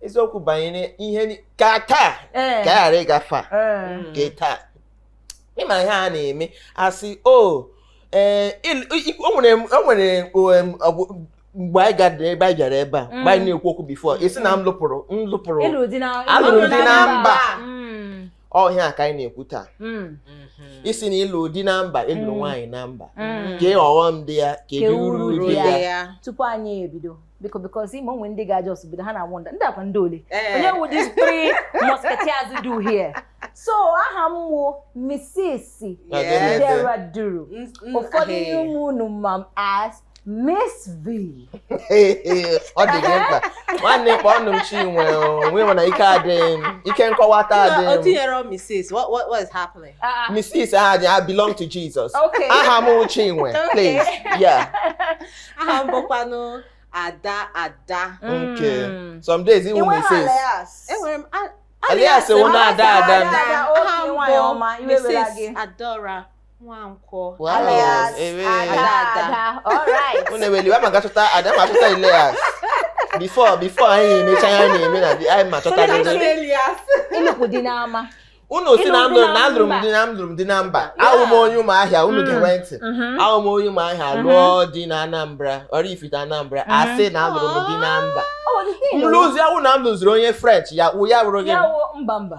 eziokwu banyere ihe ka taa ka ghara ịgafe nke taa ị ma ihe a na-eme asị o ee o nwere mgbe anyị gara ebe anyị gara ebe a mgbe anyị na-ekwu okwu before esi na m lụpụrụ m lụpụrụ alụrụ di na mba ọ wụ ihe a ka anyị na-ekwu taa hmm. mhm. isi na ịlụ di na mba ịlụ hmm. nwaanyị na mba hmm. kee ọghọm dị ya kee uru dị ya tupu anyị ebido biko because ị ma o nwere ndị ga just bido ha na-awonder ndị a kwa ndị ole eh. onye wụ these three musketeers dị here so aha m wụ Mrs. Chidera Duru ụfọdụ n'ime unu ma as Miss V. ọ dịghị mkpa nwanne kpọọnụ m Chinwe mana ike adịghị m ike nkọwata adịghị m. O tinyere Mrs. What, what, what is happening? Uh, ah, ah. Mrs. aha dị I belong to Jesus. Okay. Aha m Chinwe please. Yeah. aha m bụkwanụ Ada Ada. Okay. Mm. Some days ị wụ Mrs. Enwere m alias wụ Ada Ada. Aha m bụ Mrs. Adaora. Nwankwo. Wow. Alias Ewe. Ada. All right. Unu ewela iwe, m ga-achọta Ada ma chọta alias. Before before anyị emecha ihe anyị na-eme na di anyị ma chọta Ndị Ada. Alias. Ịlụpụ di n'ama. Unu si na m lụ na alụrụ m di na alụrụ m di na mba. Awụ m onye Ụmụahịa unu ga-ege ntị. Awụ m onye Ụmụahịa lụọ di na Anambra, Oraifite Anambra, a sị na alụrụ m di na mba. Ọ bụ the thing. M lụzi awụ na m lụziri onye French ya wụ ya wụrụ gị. Ya wụ mba mba.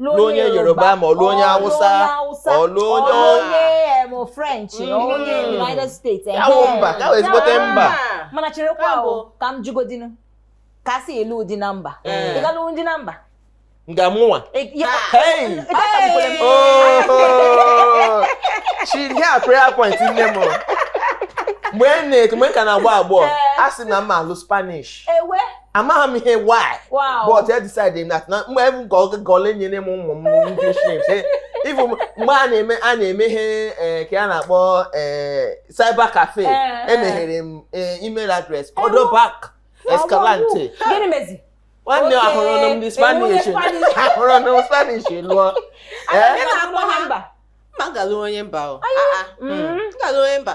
lụọ onye yoruba ma ọ lụọ onye hausa ọ lụọ onye onye french mm-hmm. onye united states ya wụ mba ka wụ ezigbote mba mana cherekwa nụ ka m jụgodịnụ ka e si alụ di na mba eh. ị ga-alụ di na mba nga mụnwa chidi a prayer point nne m mgbe m na-eto mgbe m ka na-agba agbọghọ eh. a sị na m ma-alụ spanish amaghị m ihe why but I decide na mgbe ebu nke oge gole nyere m ụmụ m English names eh, even mgbe a na-eme a na-eme ihe eh, ka a na-akpọ eh, cyber cafe emeghere m email address Cordoba Escalante nwanne ahụrụ m ndị spanish ahụrụ m spanish lụọ m ga-alụ onye mba ah, ah. mm. mm. onye mba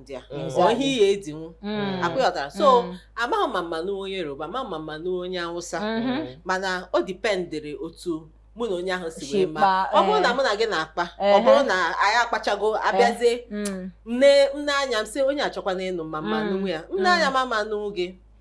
ndị a Mm. ọ ihe ị ga-edinwu Mm. ọkwa ị ghọtara so Mm. amaghị m ma m ma-anụ onye yoruba amaghị m ma m ma-anụ onye awụsa Mhm. mana o dependịrị otu mụ na onye ahụ si Si wee ma kpaa, ọ bụrụ eh. na mụ na gị na-akpa ọ Ehe. bụrụ na anyị akpachago abịazie Mm. m nee m nee anya m sị onye a chọkwanụ ịnụ m ma m ma Mm. anụnwu ya m nee anya ma m ma-anụnwu gị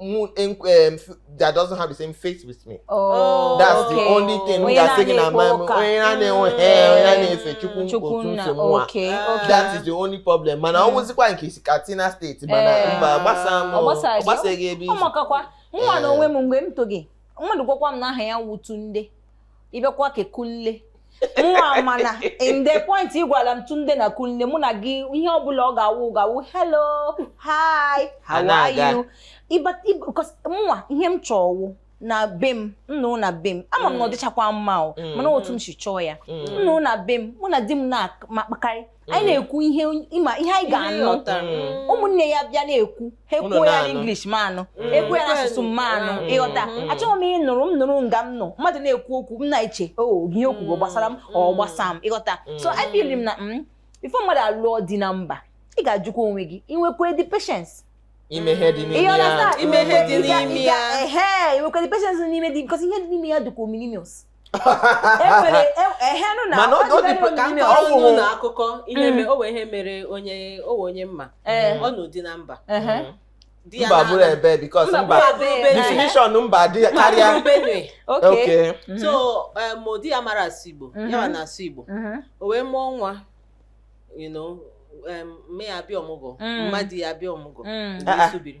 moon um, that doesn't have the same faith with me. Oh, that's okay. the only thing we are saying at my okay, okay. That is the only problem. Mana ọ wụzikwa nke i si Katsina steeti mana eh. mba gbasa m ọ gbasaghị ebe i si. Ọ makakwa nwa na onwe m mgbe m toghị mmadụ gwakwa m na aha ya wụ Tunde. ịbịakwa ka kunle nwa mana in the point ị gwala m tunde na kunle mụ na gị ihe ọbụla ọ ga-awụ ga-awụ hello hi how are you nwa ihe m chọ wụ na be m m nọ na be m ama m na ọ mm. dịchakwa mma o mm. mana otu m si chọọ ya mm. m nọ na be m mụ na di m na-akpakarị anyị na-ekwu ihe ịma ihe anyị ga-anụ mm. ụmụnne ya bịa na-ekwu ha ekwuo ya n'English m anụ mm. ekwuo ya n'asụsụ m anụ mm. ị ghọta achọghị m ịnọrọ m nọrọ nga m nọ mmadụ na-ekwu okwu m na-eche o oh, ihe o kwugo gbasara m ọ gbasa m ị ghọta so I feel na before mmadụ alụọ di na mba ị ga-ajụkwa onwe gị i nwekwa the patience ime ihe dị n'ime ya ime ihe dị n'ime ya ehe i nwekwa the patience n'ime di because ihe dị n'ime ya dịkwa ominimus ọwụwụ na akụkọ ihe mm. onwe ihe mere onye onwe onye m ma eh. ọ nụ di na mba mba bụrụ ebe because mba definition mba dị karịa okay mm-hmm. so ma di ya mara asụ Igbo ya mm-hmm. na-asụ Igbo mm-hmm. o wee mụọ nwa you know mme ya bịa ọmụgwọ mma di ya bịa ọmụgwọ mgbe mm. ah, ah. isubiri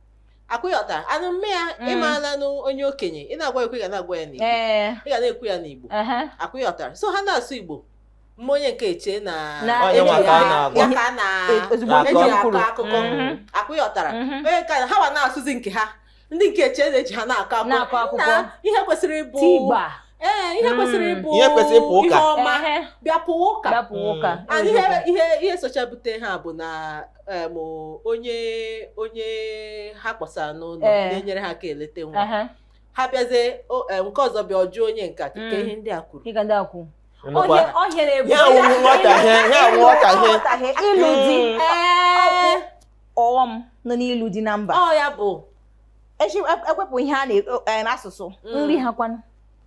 akwa ị ghọtara and mme ya Mm. ị maalanụ onye okenye ị na-agwa ya okwu ị ga na-agwa ya n'igbo ee ị ga na-ekwu ya n'igbo aha. akwa ị ghọtara so ha na-asụ igbo mma onye nke eche na Na Onye eji nwa ka a ya- na-agwa. ya ka a na E- ozugbo eji nkeji ya kwuru. akọ akụkọ Mhm. akwa ị ghọtara Mhm. onye nke a- ha wa na-asụzi nke ha ndị nke eche na-eche ha na-akọ Na-akọ akụkọ. Nna, ihe kwesịrị ịbụ Tigba. ee ihe Mm. kwesịrị ịbụ Ihe kwesịrị ịbụ ụka. ihe ọma Ehe. bịa pụwa ụka Dapụ ụka. And ihe ihe ihe socha bute ha bụ na em, onye onye ha kpọsara n'ụlọ Ee. na-enyere ha aka eleta nwa Aha. ha bịazie o- em, nke ọzọ bịa ọ jụọ onye nka ka Mm. ihe ndị a kwuru Ị ga ndị akwụ. Nnukwu a- Ọhịa na-ebu. Ya wụ nghọtahie, ya wụ nghọtahie. Nghọtahie, Ịlụ di. Mm. Ee, Ọghọm nọ n'ịlụ di na mba. ọ ya bụ Echi e wepụ ihe a n'asụsụ. Mm. Nri ha kwanụ.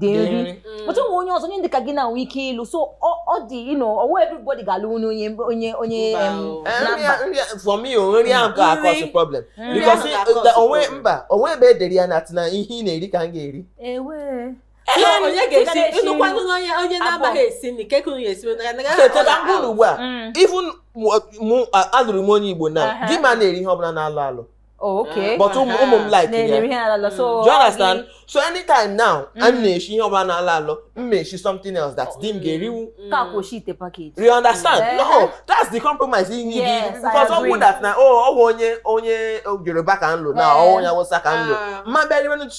dị nri mm. but onwe onye ọzọ onye dịka gị na-enwe ike ịlụ so ọ dị ino ọwa everybody ga-alụ onye onye onye onye for me nri ahụ ka a-cause problem because uh, onwe mba onwe ebe e dere ya na na ihe ị na-eri ka m ga-eri onye ga-esi ịnụkwanụ onye onye na-amaghị esi nri ka ekuru ya esi ugbu a even alụrụ m onye Igbo na di m ana-eri ihe ọbụla na-alọ alọ Oh, okay. But ụmụ ụmụ m like ya. Na-eri ihe alọ alọ. So mm. do you understand? So anytime now, mm. m na-eshi ihe ọbụla na-alọ alọ, m na-eshi something else that di m ga-eriwu. Mm. Because it's a package. You understand? Eh. No, that's the compromise ihe gị. Yes, Because ọ bụ that na oh, ọ bụ onye onye Yoruba ka m lụ na ọ eh. onye Awụsa ka m lụ. Ah. Mma bịa riwe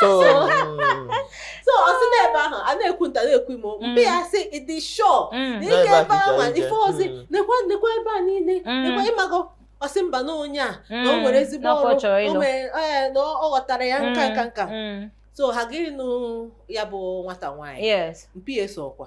so so ọ sị na ebe ahụ a na-ekwu nta na-ekwu imo Mm. mpa ya sị ị dị sure Mm. n'ike N'ebe a ebe ka ahụ ije. ife ozi Mm. nekwa nekwa ebe a niile Mm. nekwa ị mago ọ sị mba na onye a na o Mm. nwere ezigbo N'ọkwa ọ ọrụ chọrọ o ịlụ. nwere- ee, na ọ ghọtara ya nka nka nka Mm. so ha gịnị nụ ya bụ nwata nwaanyị Yes. mpa ya sị ọkwa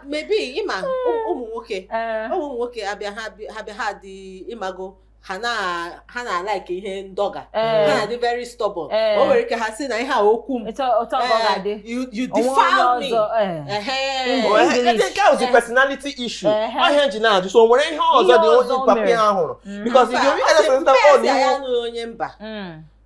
maybe ị ma ụmụ nwoke eh. ụmụ nwoke abịa ha bịa ha dị ị mago ha na-alike ihe ndọga eh. ha na-adị very stubborn eh. o nwere ike ha sị na ihe a okwu m you defile me nke ahụ dị personality issue ọ ihe e ji na-ajụ so o nwere ihe ọzọ dị onye papa ya hụrụ because you dey realize na ọ na onye mba hmm.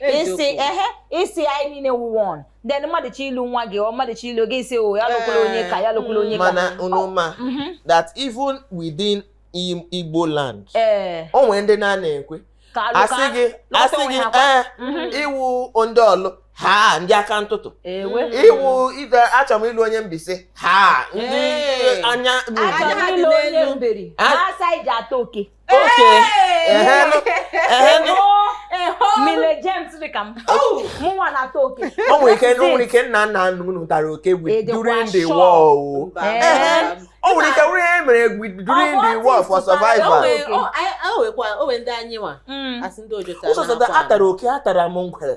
ị sị ehe ị sị anyị niile wụ one then mmadụ chọ ịlụ nwa gị or mmadụ chọ ịlụ gị ị sị o oh, ya lụkwala onye ka ya lụkwala onye ka mana unu ma oh, mhm. that even within Igbo land eh. o nwere ndị na a na-ekwe a sị gị a sị gị ee eh, mhm. ị wụ ndị Ọlụ ha ndị aka ntụtụ iwu ide achọrọ m ịlụ onye Mbaise ha ndị anya anya ha dị n'elu ha asị i ji ata oke oke mile James dị ka m oh! mụnwa na-ata oke o nwere ike o nwere ike nna nna unu tara oke during the war o oh. o nwere ike nwere ihe mere during the war for survival o nwekwa o nwere ndị anyị nwa hmm. a sị ndị ojota ụzọ atara oke atara m ngwere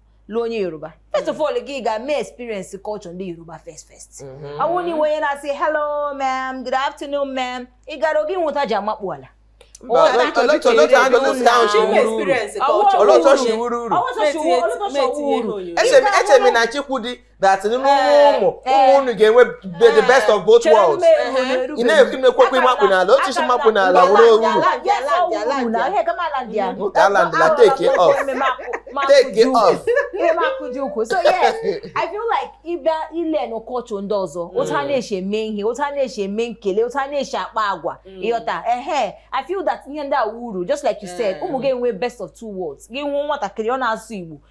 lụọ onye yoruba first of all gị ga mee experience culture ndị yoruba first first ọ wụ na ị wụ onye na-asị hello ma'am good afternoon ma'am ị ga-aga mụọ otu e ji amakpu ala olee otu o shi wụrụ uru echere m na chikwudi that n'ime eh, ụmụ ụmụ eh. unu ga-enwe the eh. best of both worlds ị na-ekwu ị na-ekwukwa ịmakpu n'ala otu i si makpu n'ala wụrụ uru taland la take it off take it off so yes i feel like ị bịa ịlearn culture ndị ọzọ mm. otu ha na-esi eme ihe otu ha na-esi eme nkele otu ha na-esi akpa agwa mm. ị ghọta ehe i feel that ihe ndị a wụ uru just like you said ụmụ ga-enwe best of two worlds gị mụọ nwatakịrị ọ na-asụ igbo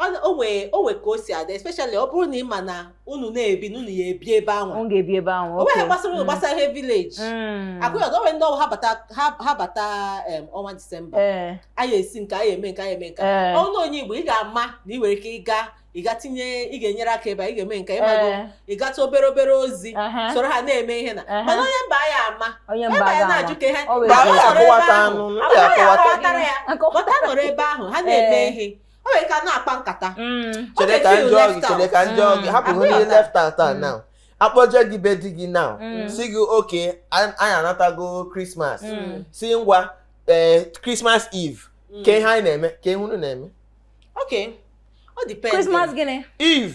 o nwee o nwee ka o si adị especially ọ bụrụ na ị ma na unu na-ebi na unu ya ebi ebe ahụ o ga-ebi ebe ahụ o nweghị gbasara unu mm. gbasara ihe village mm. ọkwa ị ghọta o nwere ndị ọ wụ ha bata ọnwa disemba eh. anyị esi nke anyị eme nke anyị eme nke eh. ọnụ onye igbo ị ga-ama na ị nwere ike ịga ị ga tinye ị ga-enyere aka ebe a ị ga-eme nke ịmago eh. ị gata obere obere ozi uh-huh. soro ha na-eme ihe na uh-huh. mana onye mba ya ama onye mba ya na-ajụ ka ha nọrọ ebe ahụ ha na-eme ihe o nwere ka na-akpa nkata Mm. Ọ chere ka ga-efeel m jụọ gị left chere out. ka m jụọ gị Mm. hapụ Abụghị ihe ọta. left out a now akpọje gị be di gị now Mm. sị gị okay anyị anatago Christmas Mm. sị ngwa ee Christmas eve Mm. kee ihe anyị na-eme kee ihe unu na-eme Okay. Ọ depends. Christmas gịnị? eve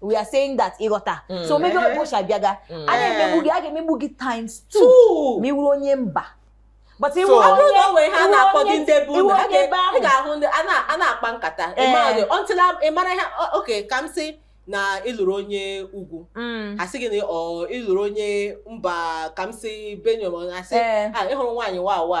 we are saying that ị ghọta mm. so maybe ụbọchị abịaga mm. a na-emegbu gị a ga-emegbu gị times two ma ị wụrụ onye mba but ị wụ onye na onwe ha na-akpọ gị ndị ebe unu ha ga-ahụ ndị a na-akpa nkata eh. until ị mara ha okay ka m sị na ịlụrụ onye ugwu mm. asị gị na ịlụrụ onye mba ka m sị Benue asị eh. ah, ị hụrụ nwaanyị Wawa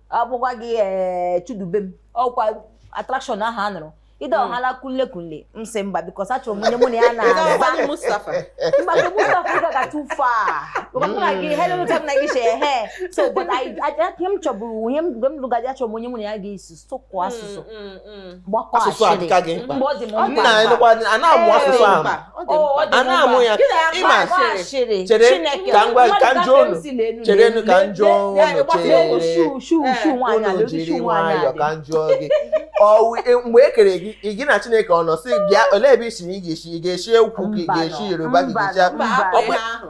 akwụkwa gị ee eh, Chudubem ọkwa attraction ahụ a nụrụ ide hmm. ọhala kunle kunle m sị mba because achọrọ m onye mụ na ya na-aza mba ka Mustafa ga too far hmm. na gị hello m na gị she ehe so but ihe m chọburu ihe m lụgaji achọrọ m onye mụ na ya ga-esi sụkwa hmm, asụsụ Mm. asụsụ adịka gị mkpa nna anyị nụkwa a na-amụ asụsụ ahụ a na-amụ ya ịma chere ka ngwa ka m jụọ unu cherenụ ka m jụọ unu chere unu jiri nwayọọ ka m jụọ gị e, mgbe e kere gị gị na Chineke ọ nọ sị bịa olee ebe ị si ị ga-esi ị ga-esi ugwu ka ị ga-esi Yoruba ka ị ga-esi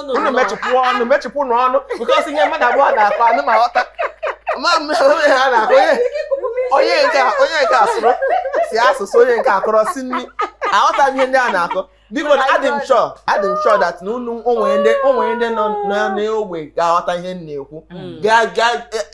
unu mechipụ ọnụ mechipụnụ ọnụ because ihe mmadụ abụọ na-akọ a nụ ma ghọta ma onye ha na-akọ onye nke onye nke asụrụ si asụsụ onye nke akọrọ si nri aghọta ihe ndị a na-akọ biko na adị m sure adị m sure that na unu o nwere ndị o nwere ndị nọ n'ogbe ga-aghọta ihe m na-ekwu mm.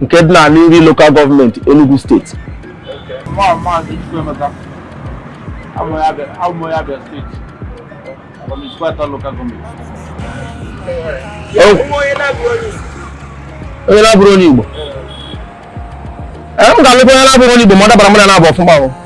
nke dị na Aninri local government Enugu state onye na-abụrọ onye Igbo m ga-alụkwa onye na-abụrọ onye Igbo ma ọ dabara mụ na na-abụ ọfụma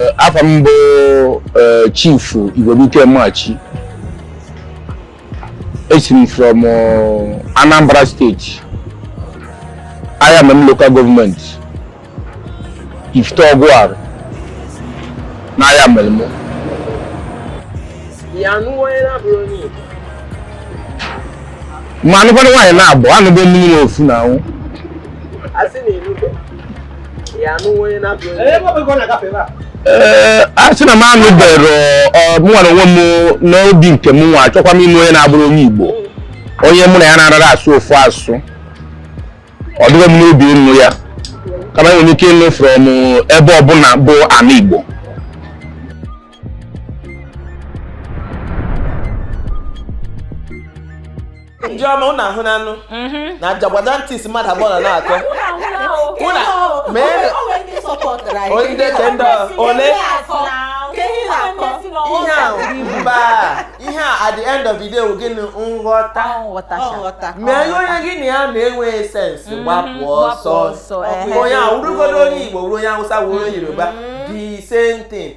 Eh, afa m bụ eh, chief Igwebuike Machi esi m from eh, Anambra state Ayamelum local government Ifite Ogwari na Ayamelum ma anụkwana nwaanyị na-abụ anụgo mmiri na ofu na anwụ ee a sị na m anụbere mụnwa na onwe m n'obi nke mụnwa achọkwa m ịnụ onye na-abụrọ onye Igbo onye mụ na ya na-anara asụ ofu asụ ọ dịghị m n'obi ịnụ ya kama enwere ike ịnụ from ebe ọbụna bụ ana Igbo ndị ọma ụnụ ahụ n'anụ mhm. na jagwada ntị isi mmadụ abụọ na na-atọ onye ke ndị ole ihe ahụ mba ihe a at the end of the day wụ gịnị nghọta mee ihe onye gị na ya na-enweghị sense mhm. gbapụ ọsọ onye a wụrụgodo onye Igbo wụrụ onye Hausa wụrụ onye Yoruba mhm. the same thing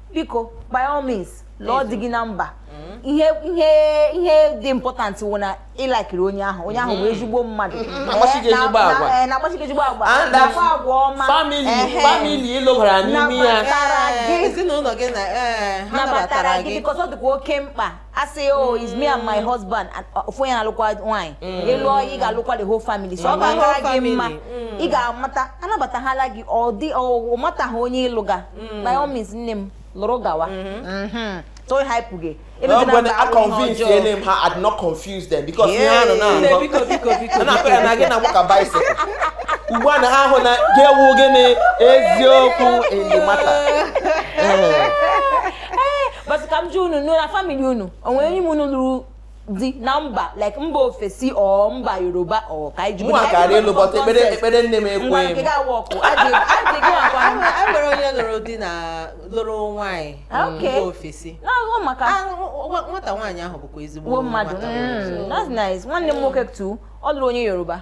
biko by all means lụọ di gị na mba mm. ihe ihe ihe dị important wụ na ị likiri onye ahụ onye ahụ wụ mm-hmm. ezigbo mmadụ mm-hmm. eh, na-akpaso gị ezigbo agwa na-akpa agwa ọma family ị lụbara n'ime ya ezinụlọ gị nabatara gị because ọ dịkwa oke mkpa ị sị oh it's me and my mm. husband and uh, ofu onye na-alụkwa nwaanyị mm. ị lụọ ị ga-alụkwa the whole family so ọ ga-akara gị mma mm. ị ga-amata anabatahala gị ọ dị ọ mataghị onye ị lụga by all means nne m lụrụ gawa mm-hmm. Mm-hmm. so ịhaipụ gị no when i convince them ah i did not confuse them because ihe ha nọ na-agọ a na-akọ ya na gị na nwoke bicycle ugbu a na ha hụ na ga-ewu gịnị eziokwu in the matter eh. but ka m jụ unu nụ na family unu onwere onye n'ime unu lụrụ di na mba like mba ofesi or mba yoruba ọ ka anyị jụrụ mụwa kara ịlụ but ekpere ekpere nne m ekwe m enwere onye lụrụ di na lụrụ nwaanyị ah, mba ofesi maka ah, nwata nwaanyị ahụ bụkwa ezigbo mmadụ mm, that's nice nwanne m nwoke too ọ lụrụ onye yoruba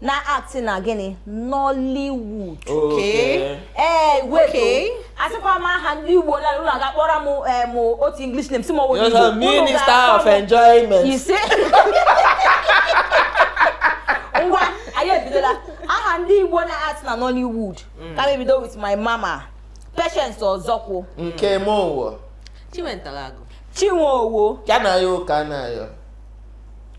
na-act na gịnị Nollywood Okay. ee wait Okay. asịkwa m aha ndị Igbo na unu ga-akpọrọ m eh, m otu English name sị m ọ wụ You're a minister of enjoyment. ise ngwa anyị ebidola aha ndị Igbo na-act na Nollywood ka m ebido with my mama Patience Ozokwor Nkem Owoh. Chiwetalu Agu. Chinwe Owoh Kanayo O. Kanayo.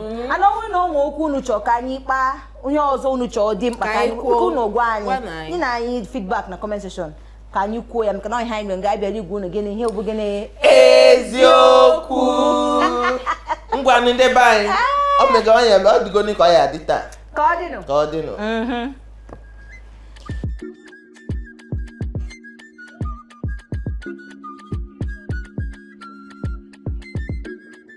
mm-hmm. and ọ wụrụ na o nwe okwu unu chọọ ka anyị kpaa o nwe ihe ọzọ unu chọọ dị mkpa ka anyị kwuo unu gwa anyị nyenụ anyị feedback na comment section ka anyị kwuo ya maka na ọ ihe anyị nwere nga anyị bịara ịgwa unu gịnị ihe bụ gịnị eziokwu ngwa ndị be anyị ah! ọ mega onye ọ dịgo ka ọ ya-adị taa ka ọ dịnụ ka ọ dịnụ mm-hmm.